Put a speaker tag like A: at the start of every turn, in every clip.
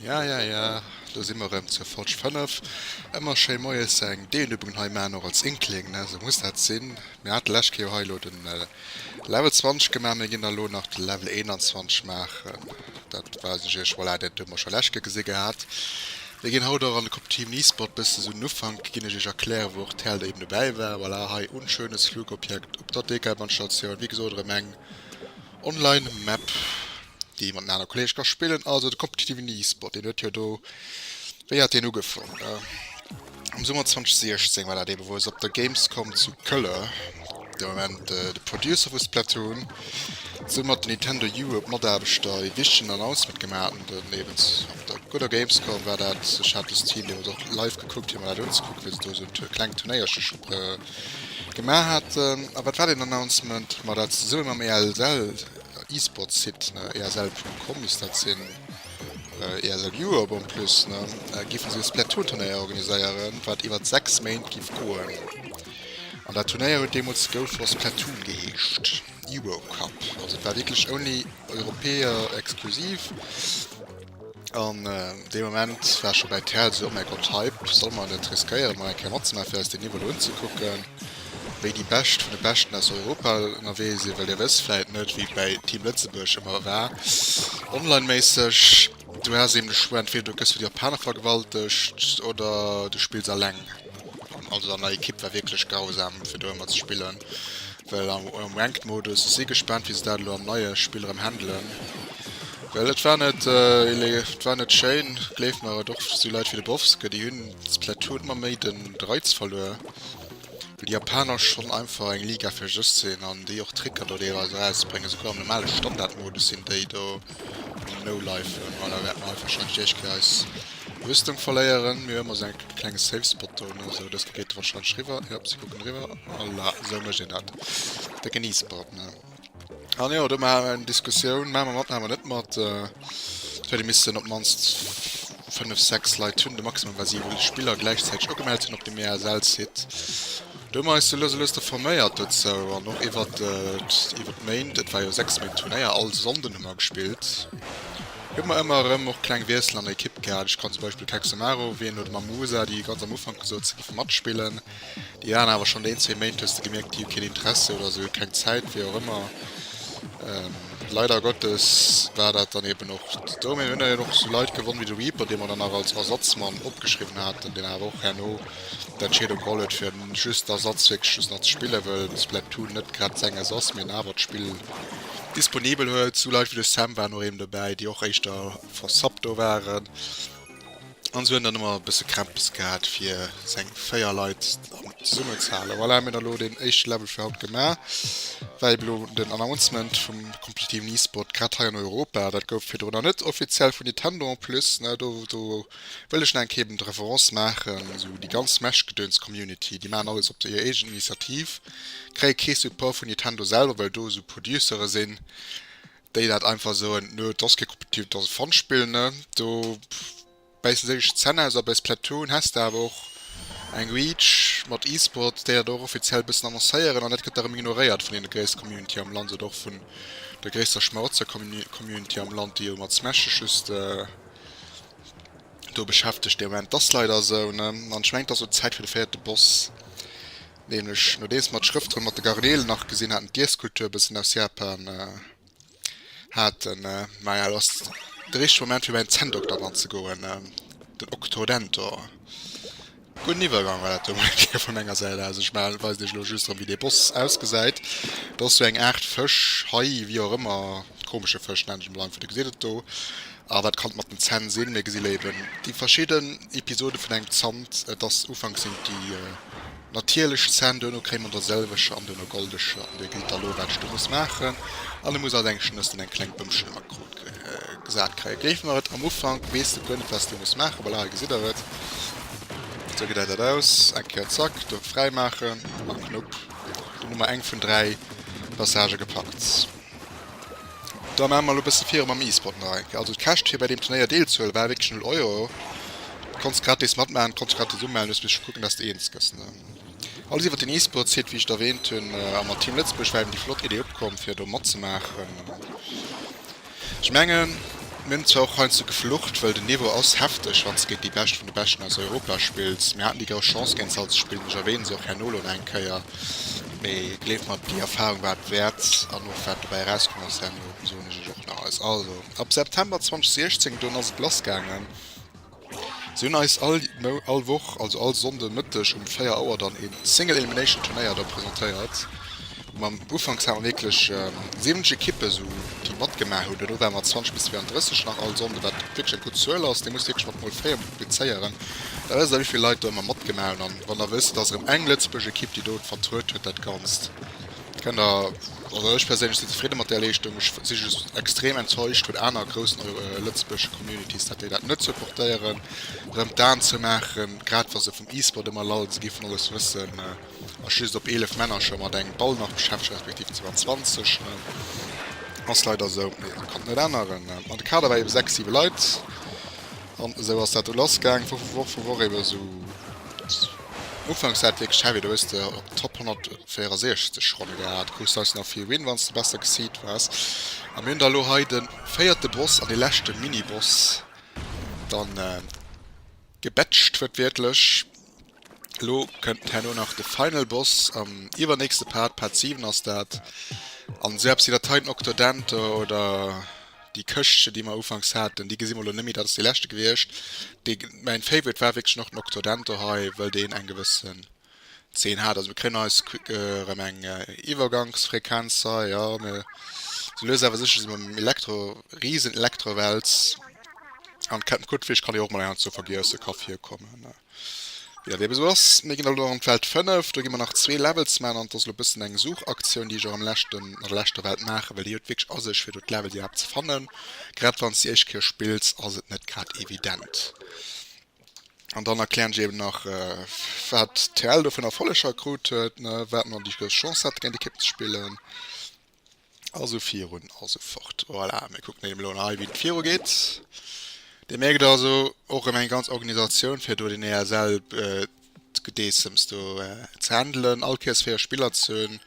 A: Ja, ja, ja, do si mer rëm zur Fotsch 5. Ëmmer schéi moies eng Deelübungen hei maachen, och als Inkling, ne? Sou muss dat sinn. Mir hate lescht Kéier jo hei elo de Level 20 gemaach, mir ginn da elo nach de Level 21 maachen. Dat weisen ech iech, voilà, dat hu mer scho lescht Kéier gesi gehat. Mir gin haut och an de Cop Team Nisport bessen sou den Ufank gin ech iech erklären wou och d'Held eben dobäi war. Voilà hei un schönes Flugobjekt op der Dekelbannstatioun. Wéi gesot erem eng Online Map déi mat den aner Kollege ka spillen. Also de Cop Team Nisport deen huet jo do, wéi hat deen ugefong? Am Summer 2016 war dat eben wou se op der Gamescom zu Kölle. De Moment de Producer vu Splatoon, soumat ass de Nintendo Europe Mataarbechter e wichtegen Announcement gemaach hunn. Doniewent op der gudder Gamescom war dat, ech hat dëst Team deemools och live gekuckt fir mer dat unzekucken, wéi se do esou e klengt Turnéierchech gemaach haten. A wat war deen Announcement? Ma dat zesumme mam ESL Esports Site, ne esl Punkt com misst dat sinn, ESL Europe en plus, ne, giffen si e Splatoon Turnéier organiséieren, wat iwwert 6 Méint giff goen. An dat Turnéier huet deemools Gold for Splatoon geheescht, Eurocup. Also et war wierklech only Europäer exklusiv. An dee Moment war scho bäi Terrell esou, oh mäi Gott, Hype, solle mer net riskéieren, emol eng Kéier matzemaachen, fir eis deen Niveau elo unzekucken, wéi déi Bescht vun de Beschten aus Europa ënnerwee sinn. Well Dir wësst vläicht net, wéi et bäi Team Lëtzebuerg ëmmer war, online-méisseg. Du has eben de Choix, entweder du gëss vun de Japaner vergewaltegt oder du spills alleng. Also an der Equipe war wierklech grausam fir do ëmmer ze spillen, well am am Ranked Modus, ech si gespaant wéi se dat elo am neie Spill erëm handelen, well et war net ele et war net schéin, gleef mer, et och sou Leit wéi de Bovske, déi hunn Splatoon ëmmer méi den de Reiz verluer. Well déi Japaner schonn einfach eng Liga fir sech sinn an déi och Tricker do deelweis erausbréngen, esouguer am normale Standardmodus sinn déi do am No-Lifen. Voilà, wäerten mer hei warscheinlech éischt Kéier eis Rüstung verléieren. Mir hu ëmmer esou eng klenge Safe Spot do, ne? Sou, dëst do geet e warscheinlech riwwer. Jop, si kucken eriwwer. Voilà, esou mécht een dat. Décken E-Sport, ne? An jo, do maache mer eng Diskussioun, maache mer mat, maache mer net mat. Et huet ee missten op d'mannst fënnef, sechs Leit hunn, de Maximum war siwe Spiller gläichzäiteg ugemellt hunn op dem EASL-Site. Do hu mer eis lues a lues da forméiert dozou an och iwwert iwwert d'Méint, et war jo sechs Méint Turnéier, all Sonnden hu mer gespillt, hu mer ëmmer erëm och kleng Wiessel an der Ekipp gehat. Ech kann zum Beispill Kexamaro erwänen oder mam Musa, déi ganz am Ufank gesot, se géife matspillen. Déi aner awer schonn een, zwee Méint hues de gemierkt, déi hu keen Interesse oder se hu keng Zäit, wéi och ëmmer. Leider Gottes war dat dann eben och esou. Mir hunn dann eben och esou Leit gewonn wéi de Reaper, dee mer dann nach als Ersatzmann opgeschriwwen haten, deen awer och herno d'Entscheedung geholl huet fir just d'Ersatz wierklech just nach ze spillen, wëll Splatoon net grad senges ass, mee en awer d'Spill disponibel huet. Esou Leit wéi de Sam waren och eben dobäi, déi och éischter versubbt do waren. An se huet dann emmer e bësse Krämps gehat fir seng 4 Leit dann zesummen ze halen. Voilà, mir hunn elo deen éischte Level fir haut gemaach. Well elo den Announcement vum kompetitiven E-Sport grad hei an Europa, dat gouf virdrun nach net offiziell vun Nintendo en plus, ne, do do wëll ech nach eng Kéier eben d'Reference maachen, esou déi ganz Smash-Gedöns-Community, déi maachen alles op der hir eegen Initiativ, kréie kee Support vun Nintendo selwer, well do esou Producere sinn, déi dat einfach soen nö dass kee competitive dass e Fun-Spill ne do bäissen sech ech Zänn aus a bei Splatoon häss de awer och eng Reach mat E-Sports déi dat och offiziell bëssen annoncéieren an dat gëtt da rëm ignoréiert vun deene gréisste Community am Land oder och vun der gréisster Schmarotzer Community am Land déi jo mat Smash sech just do beschäftegt de Moment. Dass leider esou ne an ech mengen et ass elo Zäit fir de véierte Boss. Nämlech nodeems mer d'Schrëft drun mat de Garnelen nach gesinn haten, d'Iesskultur e bëssen aus Japan haten. Maja, elo ass de richtege Moment fir bei den Zänndokter dran ze goen, den Octodentor. Gudden Iwwergang war dat do mol fir vu menger Säit aus. Ech weisen iech elo just erëm, wéi dee Boss ausgesäit. Dat ass sou eng Aart Fësch, Hai, wéi och ëmmer, komesche Fësch nennen ech e mol einfach. Dir gesitt et do. Ah wat kann mat den Zänn sinn? Mir gesi léiwen déi verschidden Episode vun engem Zant. Et ass, ufanks sinn et déi natierlech Zänn, duerno kréie mer der sëlweger an duerno goldeger an Dir gesit da lo wat ech do muss maachen an e muss all seng Schnëss un eng kleng Bëmchen am Akrot gesat kréien. Géife mer et am Ufank, weess de guer net wat s de muss maachen, voilà hei gesitt der et, esou gesäit dat aus, eng Kéier zack do fräimaachen, mat Knupp, dunn hu mer eng vun 3 Passagë gepackt. Da maache mer lo bësse virun mam E-Sport nach eng Kéier. Also et kescht fir bei deem Turnéier deelzehuelen war wierklech null Euro. Du konntest gratis matmaachen, du konntest dech gratis umellen. Du muss just kucken, dass de eens gëss. Alles iwwert den E-Sport-Site, wéi ech et erwähnt hunn. A mat Team Lëtzebuerg war eben déi flott Idee opkomm fir do matzemaachen. Ech mengen mir hunn zwar och heiansdo geflucht, well den Niveau ass hefteg wann s de géint déi Bescht vun de Beschten aus Europa spills. Mir haten déi grouss Chance géint se all ze spillen, ech erwähne se och herno lo nach eng Kéier. Mee gleeft mer, déi Erfahrung war et wäert, an och wat dobäi erauskomm ass, herno soen ech iech och nach eis. Also, ab September 2016, dunn ass et lassgaangen. Si hunn eis all Mou-, all Woch, also all Sonnde Mëtteg um 4 Auer dann ee Single Elimination Turnéier da presentéiert, wou mer, ufanks hat mer wierklech 70 Ekippen esou, déi matgemaach hunn, duerno ware mer 20 bis 32 nach all Sonnde, wat wierklech eng gutt Zuel ass. Dir musst wierklech mat mol 4 multiplizéieren, Da wësst der wéivill Leit do emmer matgemaach hunn an wann der wësst et ass erëm eng Lëtzebuerg Equipe déi do et vertruet huet dat Ganzt kënnt der, also ech perséinlech sinn zefridde mat där Leeschtung, ech si just extrem enttäuscht vun aner groussen Lëtzebuerger Communities dat déi dat net supportéieren erëm d'Aen zou maachen grad wa se vum E-Sport emmer lall si vun alles wëssen ass just op 11 Männer scho mat engem Ball nach beschäftegt respektiv 22 ass leider esou kann et net änneren an de Kader war eben 6, 7 Leit. An esou ass dat do lass gaang, Woch vu Woch vu Woch eben esou. Ufanks war et wierklech heavy, do hues de op Top 164 Ronne gehat, krus deinst nach vill Win wann s de besser geseedt waars. A mir hunn da elo hei de véierte Boss an dee leschte Mini-Boss dann gebatcht, wiertwiertlech. Lo kënnt herno nach de Final Boss am iwwernächste Part, Part 7 ass dat. An selbst déi Dateien Octodente oder déi Këschtchen, déi mer ufanks haten, déi gesi mer lo net méi. Dat ass déi leschte gewiescht. Dee mäin Favorite war wierklech nach den Octodente hei, well deen eng gewëssen Zeen hat. Also mir kréien eis erëm eng Iwwergangsfrequenz hei, jo. Mir, sou lues awer sécher si mer am Elektro, Riesen-Elektrowels. An kennt gudd Fisch kann jo och mol enger zur Vergiesse ka virkommen wi dat eben esou ass. Mir gin elo an d'Welt 5, do gi mer nach zwee Levels man an et ass elo bessen eng Suchaktioun déi ech och am leschten an der leschter Welt maachen well déi huet wierklech a sech fir do d'Levels iwwerhaapt ze fannen. Grad wanns de déi éischt Kéier spills ass et net grad evident. An dann erklären ech eben nach wat TL do fir Erfolleger krut huet, wat mer déi grouss Chance haten géint Ekippen ze spillen. A sou virun a sou fort. Voilà, mir kucken deem elo hei, wéi et virugeet. Dir mierkt also, och erëm eng ganz Organisatioun, fir do den ESL d'Gedeessems do ze handelen, all Pièce fir hir Spiller ze hunn,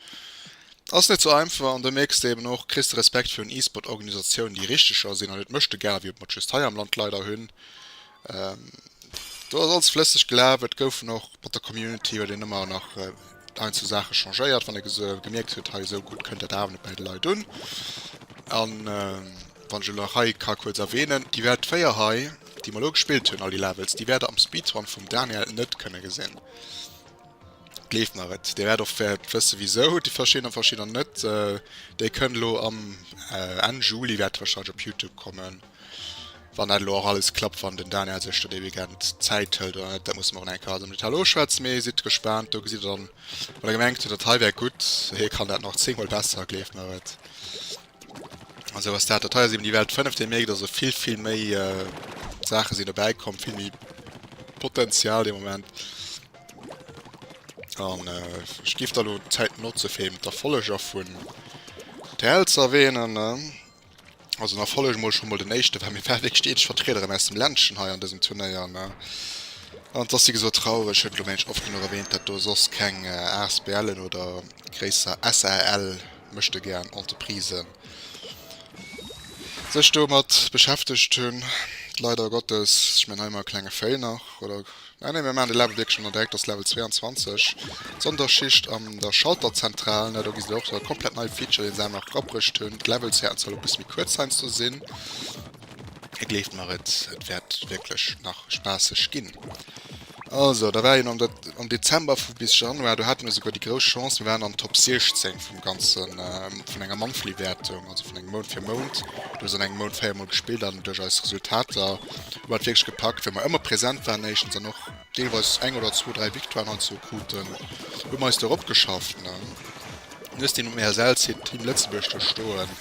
A: ass net sou einfach. An do mierks de eben och, kriss de Respekt virun E-Sport-Organisatiounen, déi richteger sinn an net Mëschtegare wéi mer just hei am Land leider hunn. Do ass alles flësseg gelaf. Et goufen och mat der Community huet een ëmmer nach einzel Saache changéiert, wann ee gese gemierkt huet hei esou gutt kënnt dat awer net bäi de Leit un. An wann ech elo nach hei ka kuerz erwähnen, déi wäert d'véier hei, déi mer elo gespillt hunn, all déi Levels, déi wäert der am Speedrun vum Daniel net kënne gesinn. Gleeft mer et. Dir wäert och wäert wësse wisou déi verschidden a verschidder net. Déi kënn elo am Enn Juli wäert wahrscheinlech op Youtube kommen. Wann dat elo och alles klappt, wann den Daniel sech do dee Weekend Zäit hëlt oder net, dat musse mer och nach eng Kéier alles am Detail oschwätzen. Mee sidd gespaant, do gesitt der dann, wann der gemengt hutt, dat hei wär gutt, hie kann dat nach zéngmol besser, gleeft mer et. An esou ass dat. Dat hei ass eben déi Welt 5. Dir mierkt also, vill, vill méi Saache sinn dobäi komm, vill méi Potenzial de Moment. An ech géif da elo d'Zäit notze fir eben d'Erfolleger vun TL ze erwähnen. Also nach folleg emol schon mol den eischten well mir waren wierklech déi eenzeg Vertriederin aus dem Ländchen hei an desem Turnéier ne an dass déi geso traureg huet elo mengen ech oft genuch erwähnt dat do soss keng asbl'en oder gréisser SARL mechte gern Entreprisen sech domat beschäftegt hun leider Gottes ech mengen hei emmer e klenge Fail nach oder. Nei, nei, mir maachen de Level wierklech ënner Direktors Level 22, d'Sonderschicht an der Schalterzentral. Nei, do gesi se och e komplett neie Feature, dee se awer nach erabruecht hunn. D'Levelshäerten solle e bësse méi kuerz heiansdo sinn. A gleeft mer et, et wäert wierklech nach spaasseg ginn. Also, da war een am am Dezember vu bis Januar, do hate mir esouguer déi grouss Chance, mir waren an d'Top 16 vum ganze vun enger Monthly-Wäertung, also vun engem Mount fir Mount. Do ass an engem Mount véier Mol gespillt an duerch eis Resultater Mir hunn et wierklech gepackt, well mer ëmmer present waren éischtens an och deelweis eng oder zwou, dräi Victoiren heizou kruten. Do hu mer eis do eropgeschafft. Mir hunn dëst Ding um ESL Site Team Lëtzebuerg do stoen.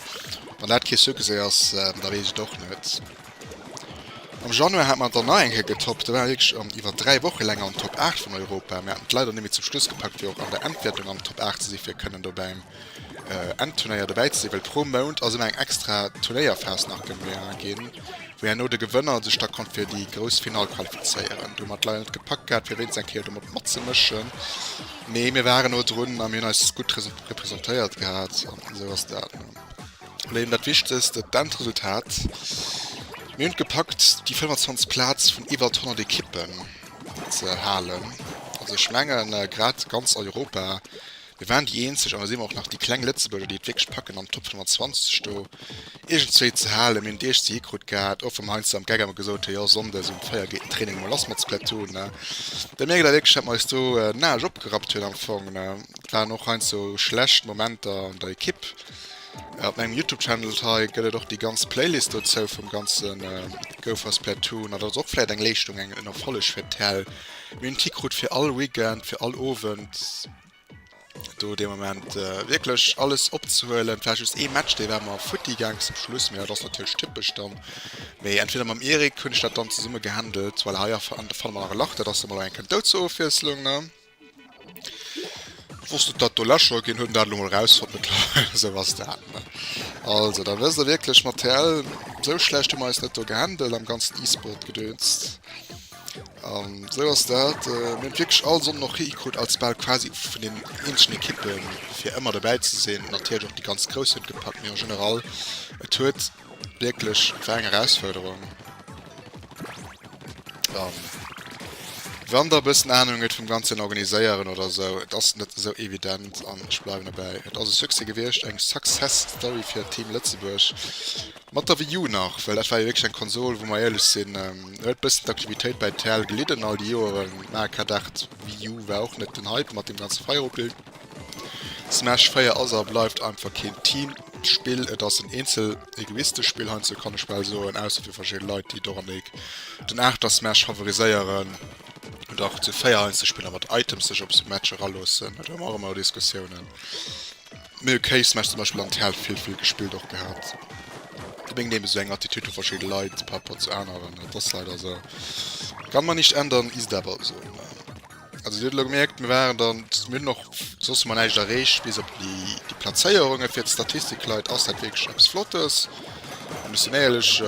A: Wann dat kee Succès ass, da weess ech et och net. Am Januar hate mer et dann nach eng Kéier getoppt. Do ware mer wierklech an iwwer dräi Woche länger an den Top 8 vun Europa. Mir haten et leider net méi zum Schluss gepackt, fir och an der Endwäertung an den Top 8 ze si fir kënnen dobäi Enn Turnéier dobäi ze sinn, well pro Mount ass ëmmer eng extra Turnéierphas nach gemaach ginn, wou herno de Gewënner sech da konnt fir déi grouss Finall qualifizéieren. Du hunn mer et leider net gepackt gehat, fir wéinst eng Kéier do mat matzemëschen, mee mir waren no drun a mir hunn eis gutt representéiert gehat an esou ass dat. Lo eben dat Wichtegst, dat d'Endresultat. Mir hunn et gepackt, déi 25 Plaz vun iwwert 100 Ekippen ze halen. Also ech mengen, grad ganz Europa. Mir waren déi eenzeg, a mir si mer och nach, déi kleng Lëtzebuerger, déi et wierklech packen an d'Top 120 do iergendzwéi ze halen. Mir hunn d'Eech ze hi krut gehat, och wa mer heiansdo am Geck emol gesot hu jo sonndes um 4 geet den Training emol lass mat Splatoon. Da mierkt Der wierklech, datt mer eis do den Aarsch opgerappt hunn am Fong. Et waren och heiansdo schlecht Momenter an der Ekipp. Op mengem Youtube Channel hei gëtt et och déi ganz Playlist dozou vum ganze Go for Splatoon. An dat ass och vläicht eng Leeschtung, en Erfolleg fir d'Häll. Mir hunn et hikrut fir all Weekend, fir all Owend. do de moment äh, wirklich alles opzehuelen vielleicht just e Match de war mal futti gang zum Schluss mir das natürlich typisch dann méi entweder mam Erik kun statt dann zusammen gehandelt weil haier an der Fall mal lacht das mal ein könnt zur Aufwieslung ne wusste dat du lascher gehen hun dann raus von mit so was da ne also da wirst du wirklich materiell so schlecht du meist net gehandelt am ganzen e-sport gedönst An esou ass dat. Mir hunn et wierklech all Sonnden och hikritt, als bal quasi vun den eenzeschen Ekippen, fir ëmmer dobäi ze sinn. Natierlech och déi ganz Grouss hunn et gepackt, mee en général, et huet wierklech, et war eng Erausfuerderung. An wann Der e bëssen Anung huet vum ganzen Organiséieren oder esou, et ass net esou evident. An ech bleiwen dobäi, et ass e Succès gewiescht, eng Success Story fir Team Lëtzebuerg. Mat der Wii U nach, well dat war jo wierklech eng Konsol, wou mer éierlech sinn, do huet bëssen d'Aktivitéit bei TL gelidden all déi Joeren. Mä K. Dart Wii U war och net den Hype mat deem ganze Feieropbild. Smash 4 ass a bleift einfach keen Teamspill, et ass en eenzel-egoistesch Spill heiansdo kann ech bal soen, ausser fir verschidde Leit, déi dorannék den Aachter Smash favoriséieren oder och zu véier heiansdo spillen a mat Items sech op esou Matcher eraloossen. Do hu mer och ëmmer Diskussiounen. Mee ok, Smash zum Beispill an TL vill vill gespillt och gehat. Hu meng Nemes esou eng Attitude vu verschidde Leit par rapport zu aneren, dat ass leider esou. Kann man nicht ändern, ist aber esou ne. Also dir hutt elo gemierkt, mir waren dann, mir hunn och soss hu mer näischt erreecht bis op déi déi Plazéierungen. Fir d'Statistikleit ass dat wierklech eppes Flottes, an ech sinn éierlech.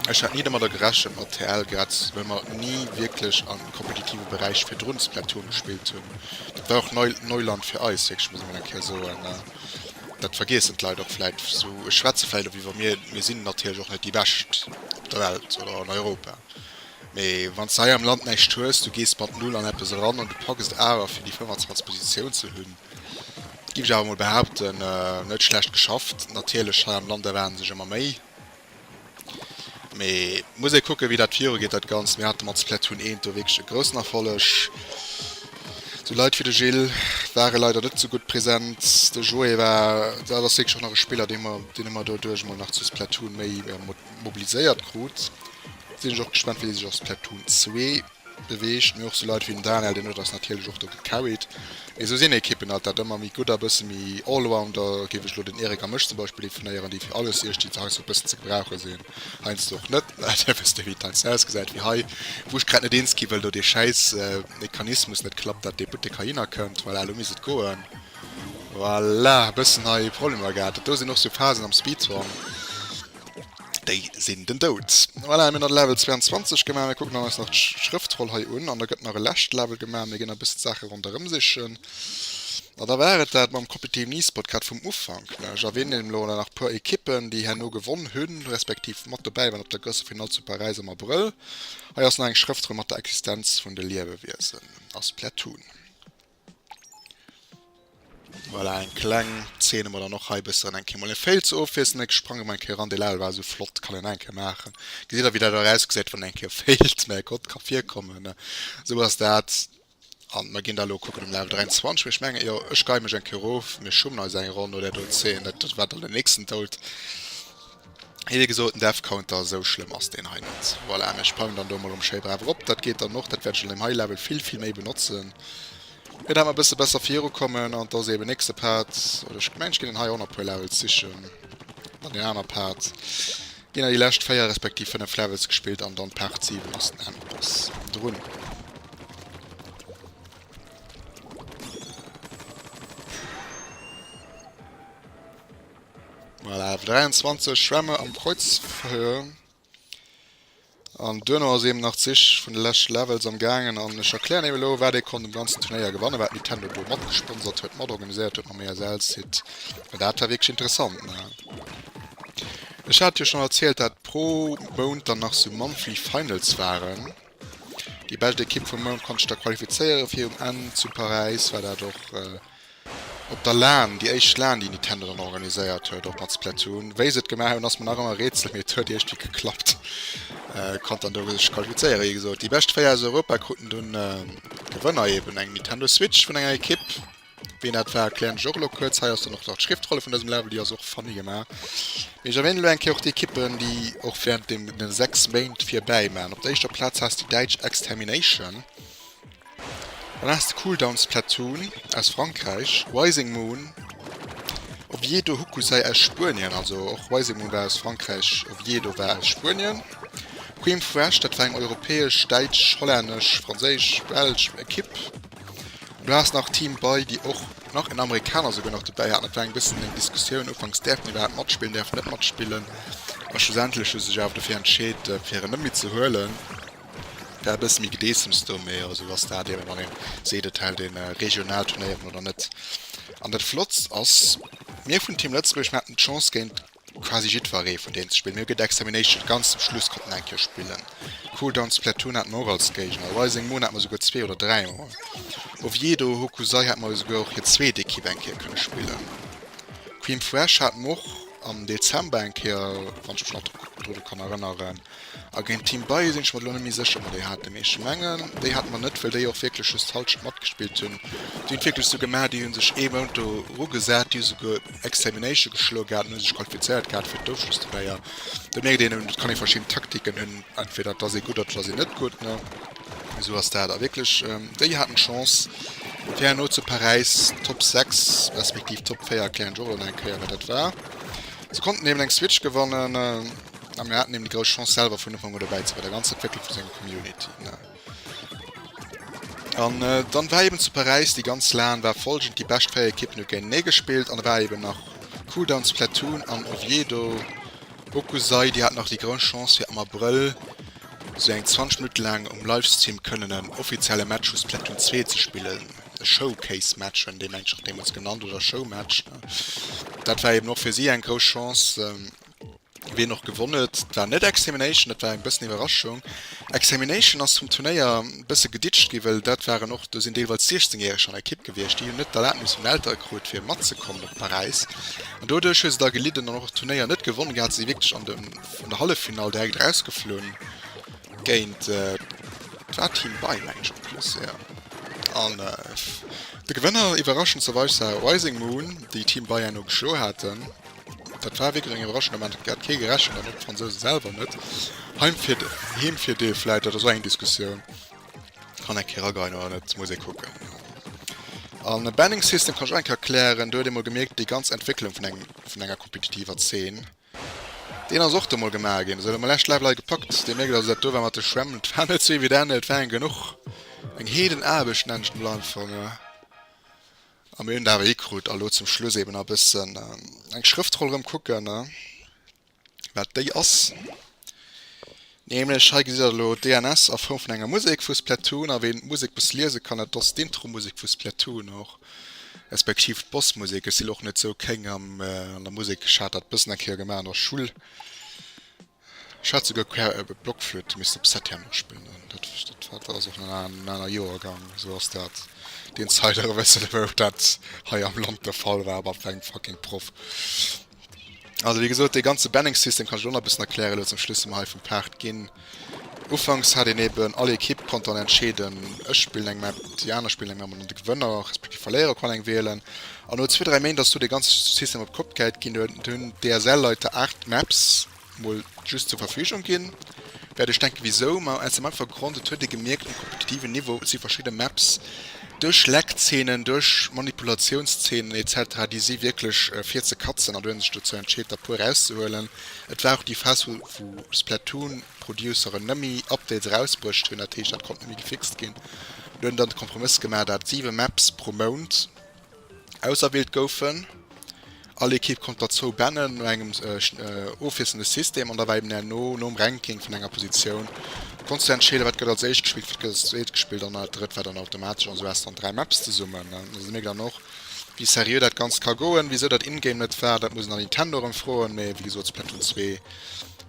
A: Ech hat ni domadder gerechent mat TL, grad well mer ni wierklech a kompetitive Beräich virdrun Splatoon gespillt hunn. Dat war och Neuland fir eis, wierklech muss ee mol eng Kéier soen. Dat vergiessen d'Leit och vläit sou. Ech schwätze vläit och iwwer mir, mir sinn natierlech och net déi Bescht op der Welt oder an Europa, mee wann s de hei am Land näischt hues, du gees mat Null an eppes eran an du packs et awer fir déi 25 Positioun ze hunn, giff ech awer mol behaupten, net schlecht geschafft. Natierlech hei am Land erwaarde sech ëmmer méi. Mee muss ee kucken, wéi dat virugeet, dat Ganzt. Mir hate mat Splatoon 1 do wierklech e groussen Erfolleg. Sou Leit wéi de Gilles ware leider net esou gutt present. De Joé war, dat ass wierklech och nach e Spiller, dee mer, deen e mer doduerch emol nach zu Splatoon méi mobiliséiert krut. Sinn ech och gespannt, wéi dee sech a Splatoon 2 Beweegt, mee och sou Leit wéi den Daniel, deen huet eis natierlech och do gecarried. Mee sou sinn Ekippen alt, dat ëmmer méi gutt a bësse méi Allrounder, géif ech elo den Eric a mech zum Beispill definéieren, déi fir alles iech, déi se heiansdo e bëssen ze gebrauche sinn, heiansdo och net, dat wësst dir, wéi d'Taxe ausgesäit, wéi hei, wou ech grad net eens gi wëll, do dee schäiss Mechanismus net klappt, dat dee Buttek heihinner kënnt, voilà, elo misst et goen, voilà, e bëssen hei Problemer gehat, dat do sinn och sou Phasen am Speedhorn. Déi sinn den Doud. Voilà, mir hunn dann Level 22 gemaach. Mir kucken dann eis nach d'Schrëftroll hei un an da gëtt nach e lescht Level gemaach. Mir ginn e bëssen d'Saache ronderëm sichen. A da war et dat mam Competitive Nispot grad vum Ufank, ne? Ech erwänen elo elo nach e puer Ekippen, déi herno gewonn hunn, respektiv mat dobäi waren op der Grosse Finall zu Paräis am Abrëll. Hei ass nach eng Schrëftroll mat der Existenz vun de Liewewiesen a Splatoon. Voilà, eng kleng Szene mat an och hei bëssen eng Kéier mol e Fail ze ofwiesselen. Ech sprange mol eng Kéier eran, dee Level war esou flott, kann een eng Kéier maachen. Gesitt der wéi dat erausgesäit wann een eng Kéier failt, mä Gott, ka virkommen, esou ass dat. An mer ginn da elo kucken um Level 23, mä ech mengen, jo ech geie mech eng Kéier erof, mir schummen eis eng Ronn no där do Szene, dat war dann den nächsten Doud. Hei wéi gesot den Death Counter, esou schlëmm ass deen hei net. Voilà, mä ech pauen dann do mol erëm schéi brav erop, dat geet dann och, dat wäert ech an deem hei Level vill vill méi benotzen, fir dat mer e bësse besser virukommen. An da si eben nächste Part, oder ech mengen ech ginn dann hei och nach e puer Levels sichen, dann deen aner Part, ginn dann déi lescht 4 respektiv 5 Levels gespillt an dann Part 7 ass den Endboss drun. Voilà, 23 Schwämme am Kreuzverhör. An duerno ass eben nach d'Sich vun de leschte Levels am gaangen an ech erklären eben elo, wat ee konnt um ganzen Turnéier gewannen, wat Nintendo do matgesponsert huet, matorganiséiert huet mam ESL-Site, well dat war wierklech interessant, ne. Ech hat jo schonn erzielt, dat pro Mount dann nach sou Monthly Finals waren. Déi bescht Ekipp vum Mount konnt sech da qualifizéiere fir um Enn zu Paräis, war dat och op der Lan, déi éischt Lan, déi Nitendo dann organiséiert huet, och mat Splatoon. Wéi se et gemaach hunn, ass mir nach ëmmer e Rätsel, mee et huet iergwéi geklappt. Konnt dann do sech qualifizéiere, wéi gesot. Déi bescht 4 aus Europa kruten dunn Gewënner, eben eng Nitendo Switch vun enger Ekipp, Wéi en dat war erklären ech och elo kuerz. Hei ass dann och nach d'Schriftrolle vun dësem Level, déi ass och funny gemaach. Mee ech erwänen elo eng Kéier och déi Ekippen, déi och während deene 6 Méint virbäi maachen. Op der éischter Plaz has de déi däitsch Extermination. Dann has de Cooldown Splatoon aus Frankräich, Rising Moon, Oviedo Hokusai aus Spuenien, also och Rising Moon war aus Frankräich, Oviedo war aus Spuenien, Cream Fresh, dat war eng europäesch, däitsch, hollännesch, franséisch, belsch Ekipp. Du has nach Team bei, déi och nach en Amerikaner souguer nach dobäi haten. Dat war eng bëssen eng Diskussioun ufanks, däerf en iwwerhaapt matspillen, däerf en net matspillen? A schlussendlech hu se sech awer dofir entscheet, fir en net méi ze huelen. Et war e bësse méi Gedeessems do, mee esou ass dat eben, wann ee seet, et hält ee regional Turnéieren oder net. An dat Flottst ass, mir vun Team Lëtzebuerg, mir haten d'Chance géint. Quasi jiddweree vun deenen ze spillen. Mir hu gëtt Extermination ganz zum Schluss konnten eng Kéier spillen. Cool Down Splatoon haten mer och als Géigner. Rising Moon hate mer souguer zwee oder dräi mol. Oviedo Hokusai hate mer jo souguer och hir zweet Ekipp eng Kéier kënne spillen. Cream Fresh hate mer och am Dezember eng Kéier, wann ech mech nach dru kann erënneren. A géint Team Baye sinn ech mer elo net méi sécher, ob mer déi haten. Mee ech mengen, déi hate mer net, well déi och wierklech just d'Halschent matgespillt hunn. Déi hunn et wierklech esou gemaach, déi hu sech ee Mount do erugesat, déi hu souguer Extermination geschloe gehat an hu sech qualifizéiert gehat fir d'Ofschlussturnéier. Do mierkt een, et kann ee verschidden Taktiken hunn, entweder et ass ee gutt oder et ass een net gutt, ne? Esou ass dat. A wierklech, déi haten d'Chance, fir herno zu Paräis Top 6 respektiv Top 4, erklären ech och elo nach eng Kéier, wat dat war, se konnten eben eng Switch gewannen. A mir haten eben déi grouss Chance selwer vun Ufank un dobäi ze sinn, bei der ganzer Entwécklung vu senger Community. An dann war eben zu Paräis déi ganz LAN war folgend, déi bescht 4 Ekippen hu géintenee gespillt an da war eben nach Cooldowns, Platoon an Oviedo, Okusai, déi haten nach déi grouss Chance fir am Abrëll esou eng 20 Minutte laang um Livestream kënnen en offizielle Match vu Splatoon 2 ze spillen, e Showcase Match huet een deem englech nach deemools genannt oder Show Match. Dat war eben och fir si eng grouss Chance. Wien och gewonn huet, war net Extermination, dat war eng bëssen Iwwerraschung. Extermination ass vum Turnéier bësse geditscht ginn, well dat waren och, do sinn deelweils 16 Jähreg an der Ekipp gewiescht, déi hunn net d'Erlaabnis vun den Eltere krut fir matzekommen op Paräis an doduerch hu se da gelidden an och d'Turnéier net gewonne gehat. Se si wierklech an der Halleffinall direkt erausgeflunn géint, et war Team Bae mengen ech en plus, jo. An de Gewënner, iwwerraschenderweis, war Rising Moon, déi Team Bae enno geschloe haten. Dat war wierklech eng iwwerraschend Ament, domat hat kee gerechent an och d'Fransouse selwer net. Heemvirdeel vläit, dat ass och eng Diskussioun, kann eng Kéier erageien oder net, muss ee kucken. A Banning System kann ech och eng Kéier erklären, do huet ee mol gemierkt, déi ganz Entwécklung vun engem, vun enger kompetitiver Zeen, deen ass och do mol gemaach ginn. Esou, elo mol lescht Live Lei gepackt, dee mierkt also, dat do war mat de Schwämm, dat war net sou evident, et waren genuch, eng Heedenaarbecht, nennen ech et mol einfach. A mir hunn et awer hikrut. A lo zum Schluss eben e bëssen eng Schrëftroll erëm kucken, wat déi ass. Nämlech hei gesitt der elo DNS a Form vun enger Musek vu Splatoon. A ween d'Musek e bësse liese kann, dat ass d'Intro-Musek vu Splatoon och, respektiv d'Boss-Musek. Ech sinn och net sou kéng an der Musek. Ech hat dat e bëssen eng Kéier gemaach an der Schull. Ech hat souguer quer ebe Blockflöte missten op Set herno spillen an dat dat war ass och nach en aner Joergang esou ass dat deen Zeider e bessen ewéi och dat hei am Land de Fall war bei engem fucking Proff also wéi gesot dee ganze Banning System kann ech elo nach e bessen erklären elo zum Schluss si mer hei vum Paart ginn Ufanks hat een eben all Ekipp konnt dann entscheeden ech spillen eng Map déi aner spillen eng Map an de Gewënner respektiv Verléierer konnt eng wielen An no zwee, dräi Méint ass do dee ganze System op d'Kopp gehäit ginn. Do hunn d'DSL-Leit der Art d'Maps mol just zur Verfügung ginn. Wäert ech denken, wisou? Ma aus dem einfache Grond, et huet ee gemierkt, um kompetitiven Niveau si verschidde Maps duerch Leckzeenen, duerch Manipulatiounszeenen etc. Déi si wierklech fir ze katzen. An do huet ee sech dozou entscheet, der puer erauszehuelen. Et war och déi Phas, wou d'Splatoon-Produceren net méi Updates erausbruecht hunn. Dat heescht, dat konnt net méi gefixt ginn. Do huet een dann de Kompromëss gemaach, dat siwe Maps pro Mount, Auserwielt goufen. All Ekipp konnt der zwou Bänne no engem ofwiesselnde System an da war eben herno nom Ranking vun enger Positioun konns du entscheeden, wat gëtt als éischt gespillt, wat gëtt als zweet gespillt an dat drëtt war dann automatesch. An sou has du dann dräi Maps zesummen. An da si mir dann och, wéi seriö dat Ganzt ka goen. Wisou dat in-game net war, dat muss een dann Nintendo erëm froen. Mee wéi gesot, Splatoon 2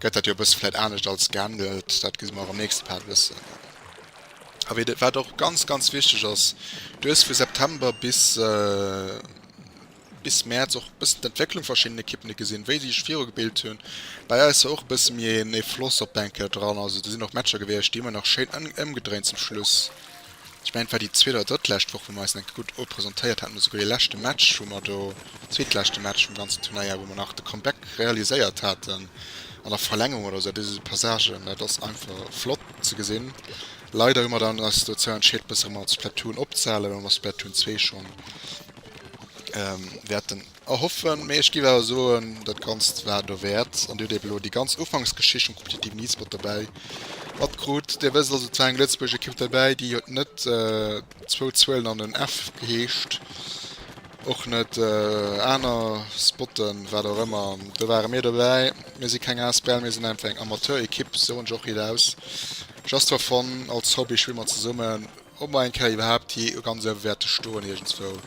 A: gëtt dat jo e bësse vläit anescht als gehandelt. Dat gi mer och am nächste Part wëssen. A wéi de, wat och ganz, ganz wichteg ass, du hues vu September bis, bis Mäerz och e bëssen d'Entwécklung vu verschiddenen Ekippen gesinn, wéi déi sech virugebilt hunn. Bei eis war och e bësse méi een ee Floss op d'Bänk hir dran. Also do sinn och Matcher gewiescht, déi hu mer nach schéin ëmgedréint zum Schluss. Ech mengen, et war déi zweet oder drëttlescht Woch, wou mer eis enke gutt representéiert haten, oder souguer dee leschte Match, wou mer do, zweetleschte Match vum ganzen Turnéier, wou mer nach de Comeback realiséiert haten an der Verlängerung oder esou. Dat is esou Passagen, dat ass einfach flott. Ze gesinn. Leider hu mer dann eis dozou entscheet bësse manner zu Splatoon opzehale well mer Splatoon 2 schonn wäerten erhoffen. Mee ech giff awer soen dat ganzt war dowäert an dir hutt eben elo déi ganz Ufanksgeschicht vum kompetitiven E-Sport dobäi matkrut. Dir wësst also et war eng Lëtzebuerg Ekipp dobäi déi huet net Zwou Zuelen an en F heescht och net aner spotten, wat och ëmmer. Do ware mir dobäi. Mir si keng asbl, mir sinn einfach eng Amateurekipp, soen ech och nit aus. Just for fun, als Hobby schwimme mer zesummen. Ob mer eng Kéier iwwerhaapt jee ganz uewe wäerte stoen iergendswou?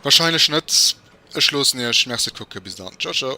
A: Wahrscheinlech net. Ech loossen iech. Merci fir d'Kucke. Bis dann. Ciao ciao.